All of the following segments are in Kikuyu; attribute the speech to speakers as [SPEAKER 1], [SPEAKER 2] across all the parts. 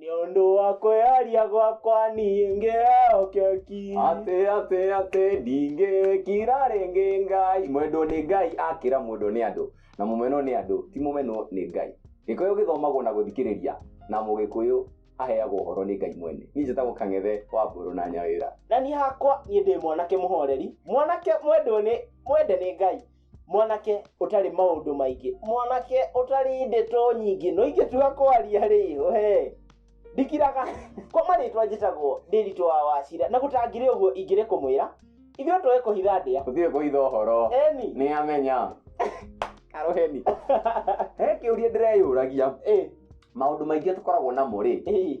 [SPEAKER 1] nĩ ũndũ wa kwĩyaria gwakwa niĩ ngĩeokeki atĩ atĩ atĩ
[SPEAKER 2] ndingĩkira rĩngĩ ngai mwendwo nĩ ngai akĩra mwendwo nĩ andũ na mũmenwo nĩ andũ ti mũmenwo nĩ ngai gĩkũyũ gĩthomagwo na gũthikĩrĩria na mũgĩkũyũ aheagwo ũhoro nĩ ngai mwene niĩ njĩtagwo kang'ethe wa mbũrũ na nyawĩra na niĩ hakwa
[SPEAKER 1] niĩ ndĩ mwanake mũhoreri mwanake mwendwo nĩ mwende nĩ ngai mwanake ũtarĩ maũndũ maingĩ mwanake ũtarĩ ndeto nyingĩ no ingĩtua kwaria rĩ he ndikiraga kwa marĩtwa njĩtagwo ndĩritũ wa wacira na gũtangirĩ ũguo ingĩrĩ kũmwĩra ithuĩ tũĩ kũhitha ndĩa ũthiĩ kũhitha ũhoro
[SPEAKER 2] eni nĩ amenya karoheni he kĩũria ndĩreyũragia ĩ maũndũ maingĩ tũkoragwo namo rĩ ĩ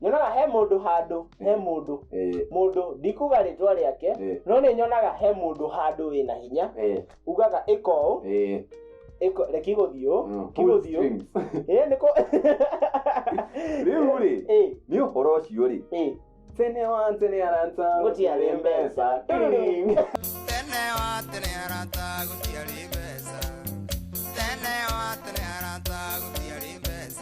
[SPEAKER 1] nyonaga he mũndũ handũ he mũndũ eh, mũndũ ndikuga rĩtwa rĩake Eh. no nĩ nyonaga he mũndũ handũ wĩna hinya eh, ugaga ĩka ũũ eh, ĩka- reke igũthiĩ ũũ mm, pull kigũthiĩ ũũ strings. ĩ nĩkũ
[SPEAKER 2] Rĩu rĩ, ĩ nĩ ũhoro ũcio rĩ ĩ tene wa tene arata Gũtiarĩ mbeca.
[SPEAKER 1] Tũrũrũ.
[SPEAKER 3] tene wa tene arata gũtiarĩ mbeca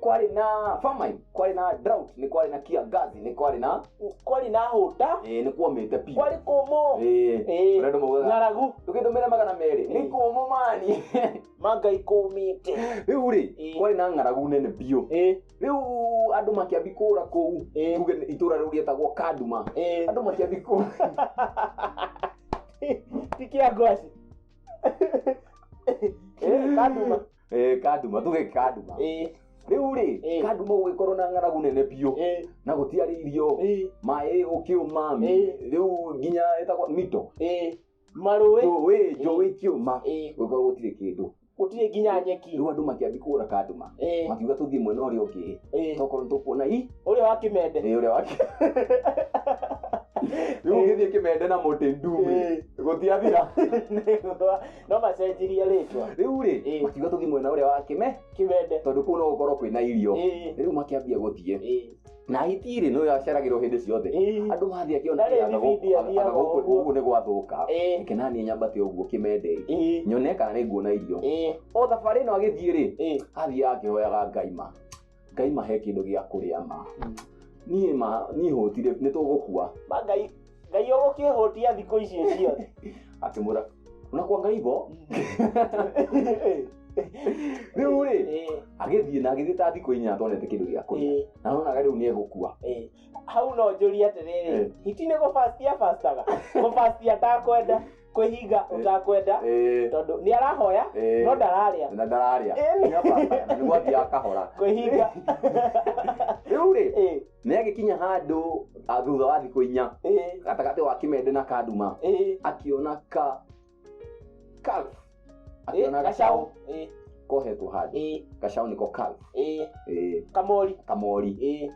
[SPEAKER 2] kwarĩ na famine kwarĩ na drought nĩ kwarĩ na kiangazi nĩ kwarĩ na kwarĩ na hũta eh, nĩ
[SPEAKER 1] kuomĩte pi
[SPEAKER 2] kwarĩ kũmũ
[SPEAKER 1] Eh, Eh, ũrĩa andũ
[SPEAKER 2] maugaga, ng'aragu ndũgĩtũmĩre
[SPEAKER 1] magana merĩ
[SPEAKER 2] nĩ kũmũ mani mangai
[SPEAKER 1] kũmĩte rĩu rĩ Eh.
[SPEAKER 2] kwarĩ na ng'aragu nene biũ Ĩ, rĩu andũ makĩambi kũra kũu Eh. tuge nĩ itũra rĩu rĩetagwo kaduma ĩ. andũ makĩambi kũra
[SPEAKER 1] ti kĩa ngwaci kanduma
[SPEAKER 2] Eh, kanduma tuge kanduma Eh, riu ri Eh. kanduma gugikorwo na ng'aragu nene biu eh, na gutiari irio eh, maĩ gukiuma Eh. riu nginya etagwo mito eh. marũĩ
[SPEAKER 1] njũĩ njũĩ ikiuma
[SPEAKER 2] Eh. gugikorwo gutiri kindu gũtirĩ nginya nyeki
[SPEAKER 1] riu andu makiambi kura
[SPEAKER 2] kanduma Eh, makiuga tuthii mwena uria ungi eh. tokorwo nitukuona i ũrĩa wa kĩmende
[SPEAKER 1] ä å rä a wake
[SPEAKER 2] rä u å gä thiä kä mende na må tä ndumä gå tiathira
[SPEAKER 1] no macenjirie rĩtwa rĩu-rĩ Ĩĩ. makiuga
[SPEAKER 2] tũthiĩ mwena ũrĩa wa kĩme kĩmende tondũ kũu no gũkorwo kwĩna irio Ĩĩ. rĩu makĩambia gũthiĩ Ĩĩ. na hiti-rĩ nĩyo yaceragĩrwo hĩndĩ ciothe Ĩĩ. andũ mathiĩ akĩona Ndarĩ ĩĩ, anga gũkũ- bibindi athiaga anga gũkũ- ũguo. gũkũ nĩ gwathũka Ĩĩ. reke naniĩ nyambate ũguo kĩmende Ĩĩ. nyone kana nĩ nguona irio Ĩĩ. o thabarĩ ĩno agĩthiĩ-rĩ Ĩĩ. athiaga akĩhoyaga ngai ma ngai mahe kĩndũ gĩa kũrĩa ma niĩ ma niĩ hũtire nĩ tũgũkua Ma ngai ngai
[SPEAKER 1] ũgũkĩhũtia thikũ ici ciothe akĩmwĩra
[SPEAKER 2] unakwa ngaibo rĩu rĩ Eh, agĩthiĩ na agĩthiĩ ta thikũ inya atonete kĩndũ gĩa kũrĩa eh, na nonaga rĩu nĩ egũkua eh. hau no
[SPEAKER 1] njũrie atĩrĩrĩ Eh. hiti nĩ gũbastia bastaga gũbastia ndakwenda kwĩhinga ũtakwenda Eh, tondũ nĩ arahoya eh, no ndararĩa na ndararĩa Eh. Nĩ
[SPEAKER 2] apartment, na nĩguo athiaga kahora kwĩhinga rĩu rĩ Eh, nĩ agĩkinya handũ ah, thutha wa thikũ inya eh, gatagatĩ wa kĩmende na kaduma eh. akiona ka ka Eh, Ona gacaũ Eh, kohetwo handũ eh, gacaũ nĩko kau eh, Eh, kamori kamori Eh,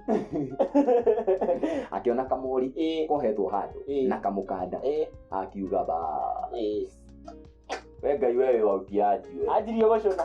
[SPEAKER 2] akĩona kamori eh, kohetwo handũ Eh. na kamũkanda eh, akiuga ba eh. we ngai we wĩ wautia ajiwe anjirie gũcũna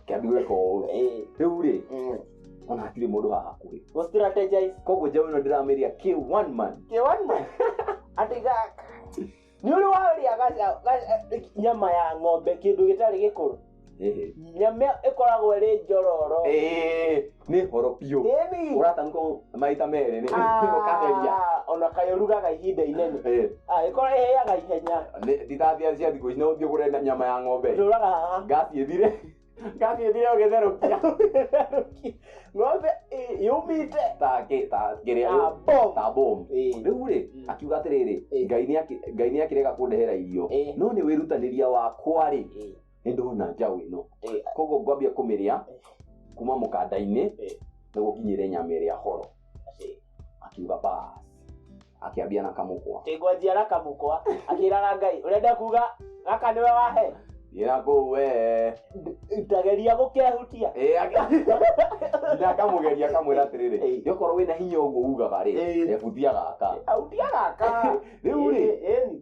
[SPEAKER 2] kĩambirwo koũ Eh, rĩu rĩ mm. ona hatirĩ mũndũ haha hakuhĩ Go strategize.
[SPEAKER 1] koguo njaũ ĩno ndĩramĩria
[SPEAKER 2] kĩ one man Kĩ one man. Atĩ gaka.
[SPEAKER 1] Nĩ ũrĩ warĩa gaca- gaca- nyama ya ng'ombe kĩndũ gĩtarĩ gĩkũrũ Ĩhĩ. nyama ĩkoragwo ĩrĩ njororo Ĩĩ. nĩ
[SPEAKER 2] horo biũ Ĩni. ũratanũka maita merĩ nĩ ũkageria Ah, ona kaĩ ũrugaga
[SPEAKER 1] ihinda inene Eh, Ah, ĩkorwo ĩhĩaga ihenya nĩ- nditathia cia thikũ
[SPEAKER 2] ici no thiĩ ũgũre na- nyama ya ng'ombe ndũraga haha ngasi
[SPEAKER 1] ĩthire
[SPEAKER 2] ngasi ĩthire ũgĩtherũkia
[SPEAKER 1] ng'ombe ĩ- yumĩte take ta kĩrĩa Ah, bomb. ta bomu Eh. rĩu rĩ
[SPEAKER 2] Mm. akiuga atĩrĩrĩ Eh. ngai nĩaki- ngai nĩakĩrega kũndehera irio Eh. no nĩ wĩrutanĩria wakwa rĩ Eh. nĩ ndona njaũ ĩno Eh, koguo ngwambia kũmĩrĩa Eh. kuma mũkanda-inĩ Eh. na gũkinyĩre nyama ĩrĩa horo eh. akiuga bas akĩambia na kamũkwa tigwanjia na kamũkwa
[SPEAKER 1] akĩraga ngai ũrenda kuga gaka nĩwe wahe ĩrakũu wee
[SPEAKER 2] tageria
[SPEAKER 1] gũkehutia Eh, ake- Nda
[SPEAKER 2] akamũgeria akamwĩra atĩrĩrĩ Eh. yokorwo wĩna hinya ũguo ugaga rĩ Eh. ebutia gaka ahutia gaka Rĩu rĩ. Ĩni, ĩni.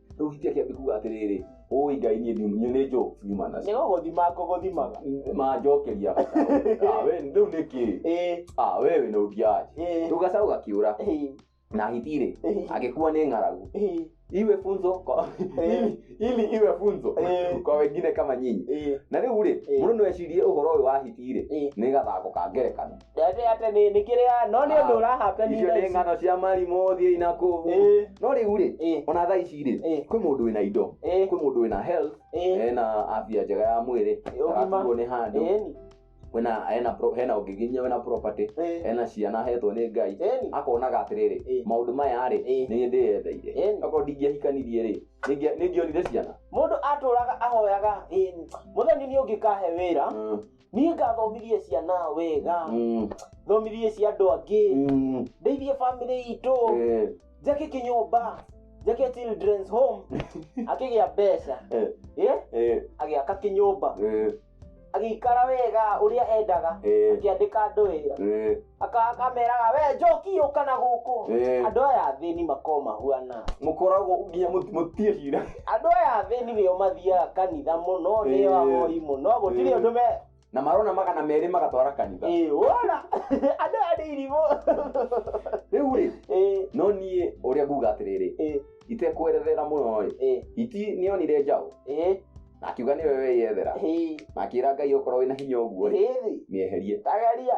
[SPEAKER 2] rĩu hitia kĩambi kuga atĩrĩrĩ ũĩ ngai niĩ ndium- niĩ nĩ njũ nyuma nĩ nacio gũgũthima ngũgũthimaga
[SPEAKER 1] manjokeria
[SPEAKER 2] Ah, we rĩu nĩ kĩ ĩĩ Ah, we wĩ na ũthiaji ĩĩ rĩu gacaũ gakiũra ĩĩ na hitirĩ ĩĩ agĩkua nĩ ng'aragu ĩĩ iwe funzo kwa, Eh. ili, ili iwe funzo Eh. kwa wengine kama nyinyi ĩĩ na rĩu rĩ Eh. mũndũ no ecirie ũhoro ũyũ wa hitirĩ ĩĩ nĩ gathako ka ngerekano Ndate ate nĩ nĩ
[SPEAKER 1] kĩrĩa no nĩ ũndũ Ah, ũrahapeni icio nĩ ng'ano cia
[SPEAKER 2] marimũ thiĩi na kũu Ĩĩ. no rĩu rĩ Ĩĩ. ona thaa ici rĩ Ĩĩ. kwĩ mũndũ wĩna indo Ĩĩ. kwĩ mũndũ wĩna health Ĩĩ. ena afya njega ya mwĩrĩ Ũgima. arakuo nĩ handũ Ĩni. wena hena pro- hena ũngĩ nginya wena property Ĩĩ. hena ciana hetwo nĩ ngai Ĩni. akonaga atĩrĩrĩ Ĩĩ. maũndũ maya rĩ Ĩĩ. nĩ ndĩyetheire Ĩni. akorwo ndingĩahikanirie rĩ nĩngĩa- nĩngĩonire ciana Mũndũ atũraga
[SPEAKER 1] ahoyaga ĩni. Mũthoni nĩ ũngĩkahe wĩra. Mm. niĩ ngathomithie ciana wega Mm, thomithie cia andũ angĩ mm, ndeithie bamĩrĩ itũ eh, njake kĩnyũmba njake children's home akĩgĩa mbeca eh, Eh, eh, agĩaka kĩnyũmba eh, agĩikara wega ũrĩa endaga eh, akĩandĩka andũ wĩra eh. Aka- akameraga we njoki yũka na gũkũ Eh. andũ aya athĩni makoo mahuana mukoragwo nginya
[SPEAKER 2] mut- mutirĩ cira andũ aya athĩni
[SPEAKER 1] nĩo mathiaga kanitha mũno nĩo Eh. ahoi mũno gũtirĩ Eh. ũndũ me na marona magana
[SPEAKER 2] merĩ magatwara kanitha Ĩĩ, wona
[SPEAKER 1] andũ aya nĩ irimũ
[SPEAKER 2] rĩu rĩ Ĩĩ, no niĩ ũrĩa nguga atĩrĩrĩ ĩĩ, itekwerethera mũno rĩ ĩĩ, iti nĩonire njaũ ĩĩ, na akiuga nĩwe weyethera ĩĩ, na akĩra ngai okorwo wĩna hinya ũguo rĩ ĩĩ, mĩeherie tageria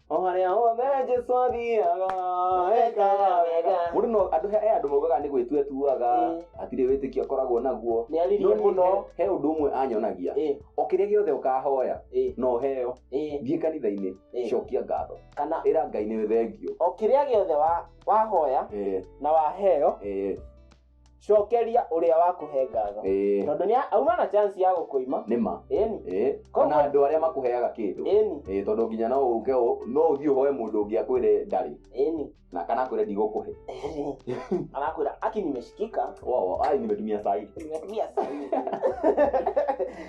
[SPEAKER 2] o harĩa hothe jesu athiaga ekaga wega mũndũ no andũ he andũ maugaga nĩ gwĩtua atuaga Mm. hatirĩ wĩtĩkio akoragwo naguo nĩ aririe No niĩ mũno he he
[SPEAKER 1] ũndũ ũmwe
[SPEAKER 2] anyonagia Ĩ, o kĩrĩa gĩothe ũkahoya ĩ, no heo ĩ, thiĩ kanitha-inĩ ĩ. cokia ngatho kana ĩra ngai nĩ
[SPEAKER 1] thengio
[SPEAKER 2] o kĩrĩa gĩothe wa-
[SPEAKER 1] wahoya Eh, na waheo eh, cokeria ũrĩa wakũhe ngatho ĩĩ tondũ nĩ auma na chance ya gũkũima nĩma ĩni ĩĩ
[SPEAKER 2] Koguo- ona andũ arĩa makũheaga kĩndũ ĩni ĩĩ tondũ nginya no ũke ũ- no ũthiĩ ũhoe mũndũ ũngĩ akwĩre ndarĩ ĩni na kana akwĩre ndigũkũhe
[SPEAKER 1] anakwĩra aki nimeshikika wao ai nimetumia saa
[SPEAKER 2] hii nimetumia sana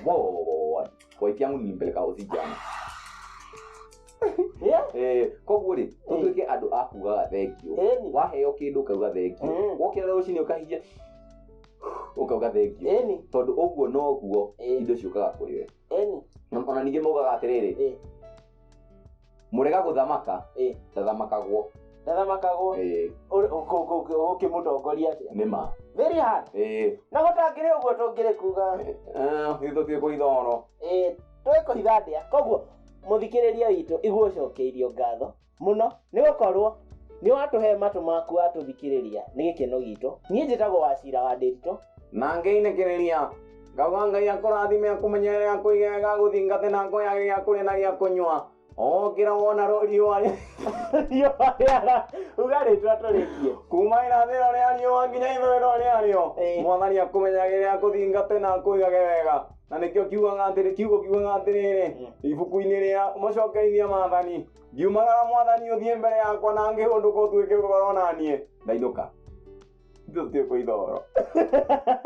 [SPEAKER 2] Boy, kwa hiki yangu nilimpeleka hosi jana Yeah. Eh, koguo rĩ tũtuĩke andũ a kugaga thengio Eni. waheo kĩndũ ukauga thengio Mm. wokĩra rũcinĩ ũkahihia ukauga thengio Eni. tondũ ũguo noguo Eh. indo ciũkaga kũrĩ we Eni. Na- ona ningĩ maugaga atĩrĩrĩ Eh. mũrega gũthamaka Eh. ndathamakagwo Ndathamakagwo. Eh, Ũrĩ- ũkũ- ũkũ- ũkũ- ũkĩmũtongoria atĩa? nĩ ma Very hard. Eh,
[SPEAKER 1] Na gũtangĩrĩ ũguo tũngĩrĩ kuga. eh, ithuĩ tũtiĩ
[SPEAKER 2] kũitha ũhoro Eh, tũĩ kũhitha
[SPEAKER 1] ndĩa. Koguo mũthikĩrĩria witũ igua ũcokeirio ngatho mũno nĩ gũkorwo nĩ watũhe matũ maku watũthikĩrĩria nĩ gĩkeno gitũ
[SPEAKER 2] niĩ
[SPEAKER 1] njĩtagwo wacira wa ndĩritũ na
[SPEAKER 2] ngĩinĩkĩrĩria
[SPEAKER 1] ngauga
[SPEAKER 2] ngai akũrathime akũmenyerere akũige wega agũthingate na ngoya gĩa kũrĩa na gĩa kũnyua ũkĩra wona rũ- riũa rĩ- riũa
[SPEAKER 1] rĩara uga rĩtwa tũrĩkie kuma irathĩro
[SPEAKER 2] rĩa riũa nginya ithũĩro rĩarĩo Ĩĩ. mwathani akũmenyagĩrĩre akũthingate na akũigage wega na nĩkĩo kiugaga atĩrĩ kiugo kiugaga atĩrĩrĩ ibuku-inĩ rĩa mũcokeirie maathani ngiumagara mwathani ũthiĩ mbere yakwa na ngĩhũndũka ũtuĩke ũhoro naniĩ ndainũka ithuĩ tũtuĩkwo ithoro